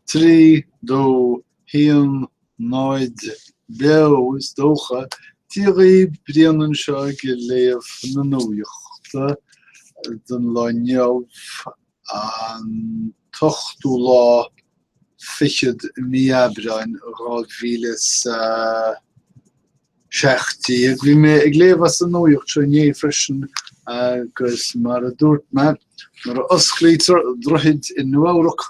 Trí dó a haon náid beo, is dócha. Díogaí Briain anseo ag léamh na nuachta don lá inniu, an t-ochtú lá fichead mí Aibreáin, dhá mhíle is a. 17. Ag bhí mé ag léamh as an nuaíocht seo inné freisin agus mar a dúirt mé, nuair a osclaítear droichid i Nua-Eabhrac,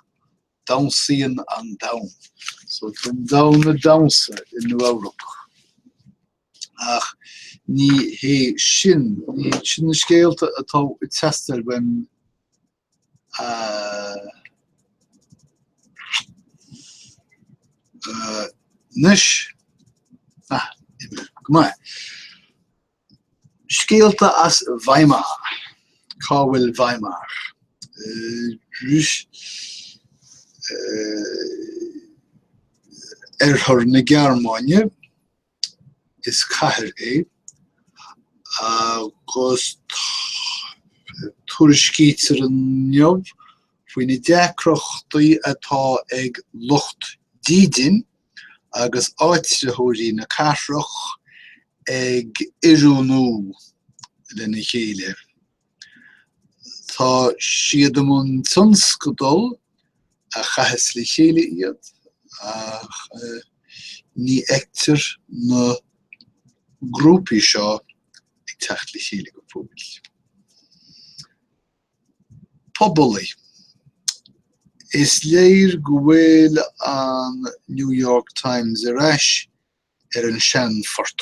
damhsaíonn an domhan. So tá an domhan ag damhsa i Nua-Eabhrac. Ach ní hé sin, ní iad sin na scéalta atá ag teastáil uaim. Anois, go maith. Scéalta as Weimar. Cá bhfuil Weimar? Oirthear na Gearmáine, Is cathair é agus tuairiscítear inniu faoi na deacrachtaí atá ag lucht dídin agus áititheoirí na cathrach ag oiriúnú lena chéile. Tá siad i mbun tionscadal a chaithfeas le chéile iad ach ní fheictear na grúpaí seo ag teacht le chéile go fóill. Pobalaí. Is léir go bhfuil an New York Times ar ais ar an seanphort.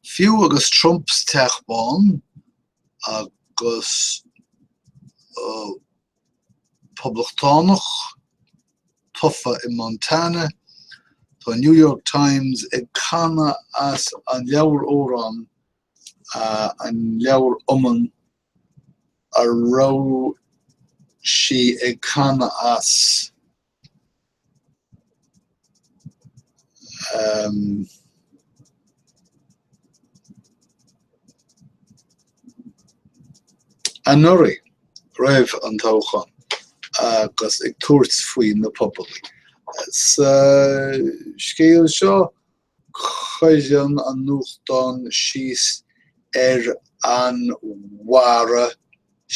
Fiú agus Trump sa Teach Bán agus Poblachtánach tofa i Montana, tá an New York Times ag canadh as an leabhar amhrán, an leabhar iomann a raibh sí ag canadh as. Anuraidh, roimh an toghchán agus ag tabhairt faoi na pobalaithe, sa scéal seo cuireann an nuachtán síos ar an Mhara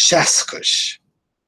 Seascais.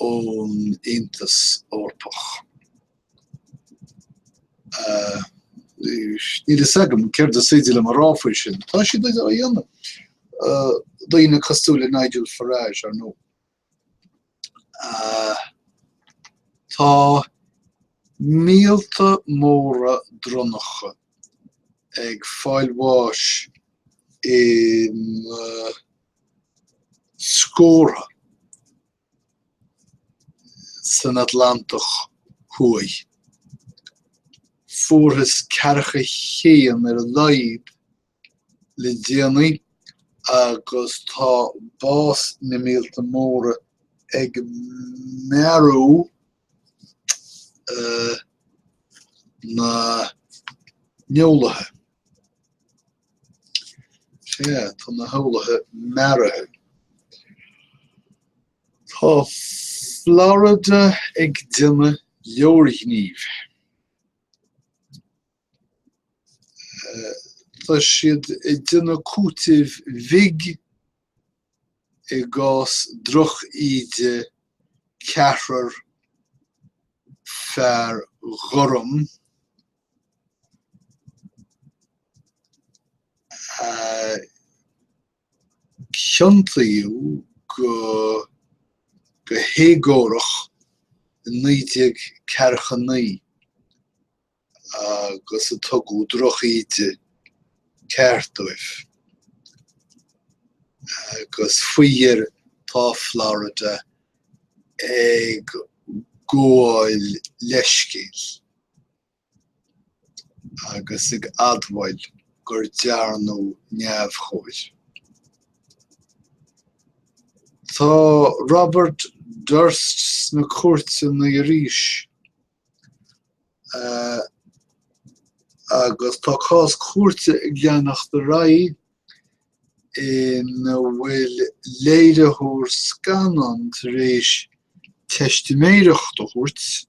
ón Aontas Eorpach. Níl a fhios agam céard is féidir liom a rá faoi sin, tá siad ag déanamh, daoine cosúil le Nigel Farage, ar ndóigh. Tá míolta móra dronnacha ag fáil bháis in. scórtha san Atlantach Thuaidh. Fuarthas ceathracha a haon ar a laghad le déanaí agus tá bás na míolta móra ag mearú na n-eolaithe. Sea, tá na heolaithe mearaithe. Tá Florida ag déanamh leorghnímh. Tá siad ag déanamh cúitimh bhig i gcás droch-íde ceathrar fear ghorm. a ciontaíodh go héagórach i naoi déag ceathracha naoi agus ar tugadh droch-íde ceart dóibh. Agus faoi dheireadh tá Florida ag gabháil leithscéil. agus ag admháil gur dearnadh neamhchóir. Tá Robert Durst sna cúirteanna arís agus tá cás cúirte ag leanacht ar aghaidh ina bhfuil léiritheoir scannán tar éis teistiméireacht a thabhairt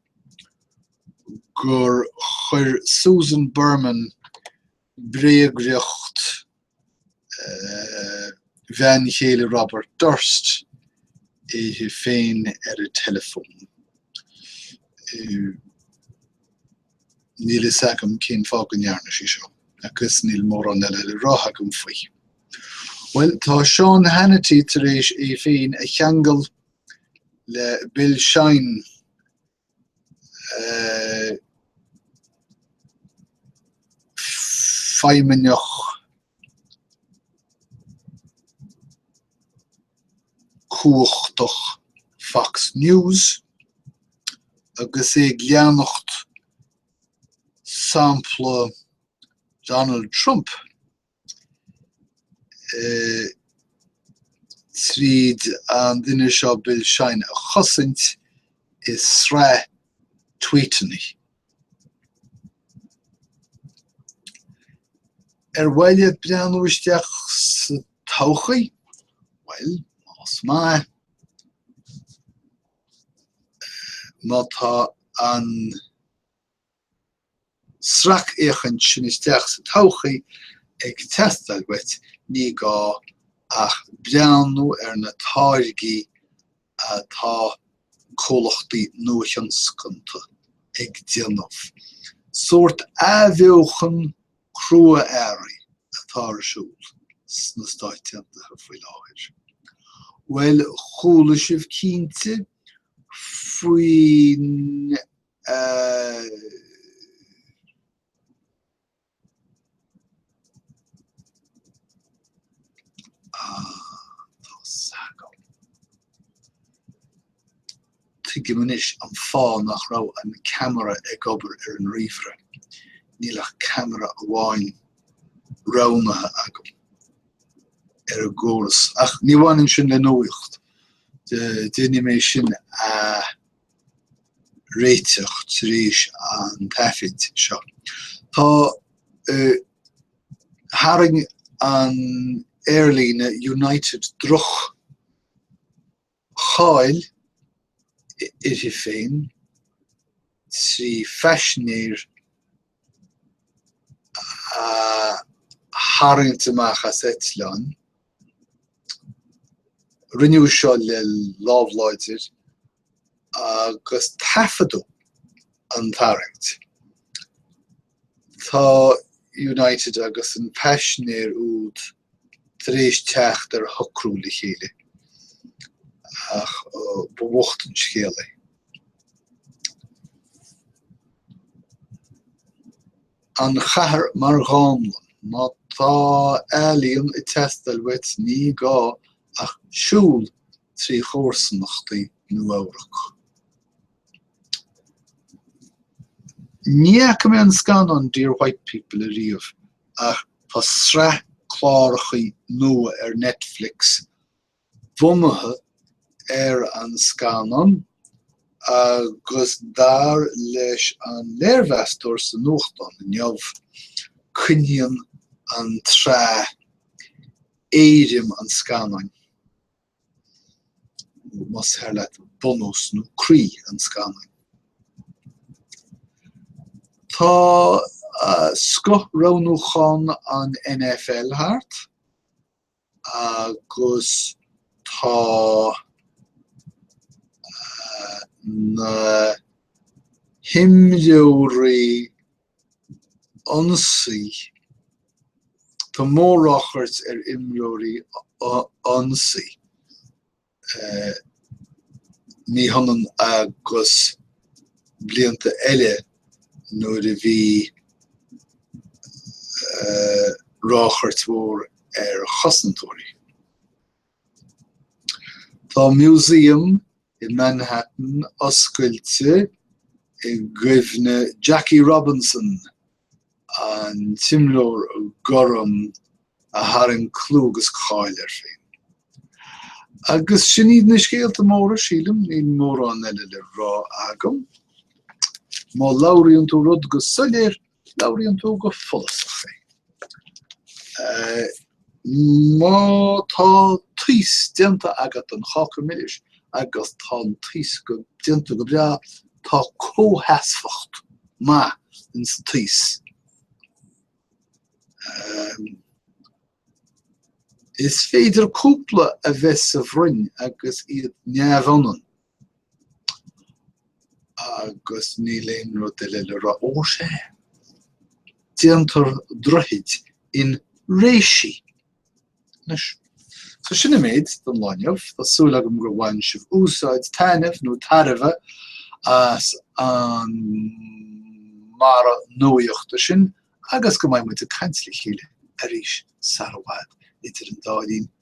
gur chuir Susan Berman bréagriocht bhean chéile Robert Durst uirthi féin ar an teileafón. Níl a fhios agam cén fáth go ndearna sí seo agus níl mórán eile le rá agam faoi. Bhuel, tá Sean Hannity tar éis é féin a cheangal le Bill Shine, feidhmeannach cumhachtach Fox News, agus é ag leanacht sampla Donald Trump. tríd an duine seo Bill Shine a chosaint i sraith tweetannaí. Ar mhaith leat breathnú isteach sa todhchaí? Bhuel, más maith, má tá an sracfhéachaint sin isteach sa todhchaí ag teastáil uait, ní gá ach breathnú ar na táirgí atá comhlachtaí nuathionscanta ag déanamh, sórt athbheochan crua-earraí atá ar siúl sna Stáit Aontaithe faoi láthair, bhuel, chuala sibh cinnte faoin. Tuigim anois an fáth nach raibh an ceamara ag obair ar an ríomhaire. Níl ach ceamara amháin roghnaithe agam ar an gcóras. Ach ní bhaineann sin le nuacht. Déanfaidh mé sin a réiteach tar éis an taifid seo. Tá Tharraing an aerlíne United droch cháil uirthi féin trí phaisinéir a tharraingt amach as eitleán. Rinneadh seo le lámh láidir agus taifeadadh an tarraingt. Tá United agus an paisinéir úd tar éis teacht ar shocrú le chéile, ach ba bhocht an scéal é. An chathair mar dhánlann. Má tá ealaíon ag teastáil uait, ní gá ach siúl trí chomharsanachtaí Nua-Eabhrac. Ní fhaca mé an scannán Dear White People ariamh, ach tá sraith cláracha nua ar Netflix bunaithe ar an scannán agus dar leis an léirmheastóir sa nuachtán inniu, coinníonn an tsraith éirim an scannáin, más fearr leat, bunús nó croí an scannáin. Tá scoth roghnúchán an NFL thart. agus tá na himreoirí ionsaí, tá mór-ráchairt ar imreoirí ionsaí Ní hionann agus blianta eile nuair a bhí ráchairt mór ar chosantóirí, tá museum in Manhattan oscailte i gcuimhne Jackie Robinson, an t-imreoir gorm a tharraing clú agus cáil air féin. Agus sin iad na scéalta móra, sílim, níl mórán eile le rá agam. Má labhraíonn tú rud go soiléir, labhraíonn tú go follasach é. Má tá taos déanta agat don cháca milis agus tá an taos déanta go breá, tá comhsheasmhacht maith in sa taos. Is féidir cúpla a bheith sa bhroinn agus iad neamhionann. Agus níl aon rud eile le rá. Ó, sea. Déantar droichid in réisí. Anois, so sin an méid don lá inniu. Tá súil agam gur bhain sibh úsáid, taitneamh nó tairbhe as an mBarra Nuaíochta sin agus go mbeidh muid ag caint le chéile arís sara bhfad. Idir an dá linn.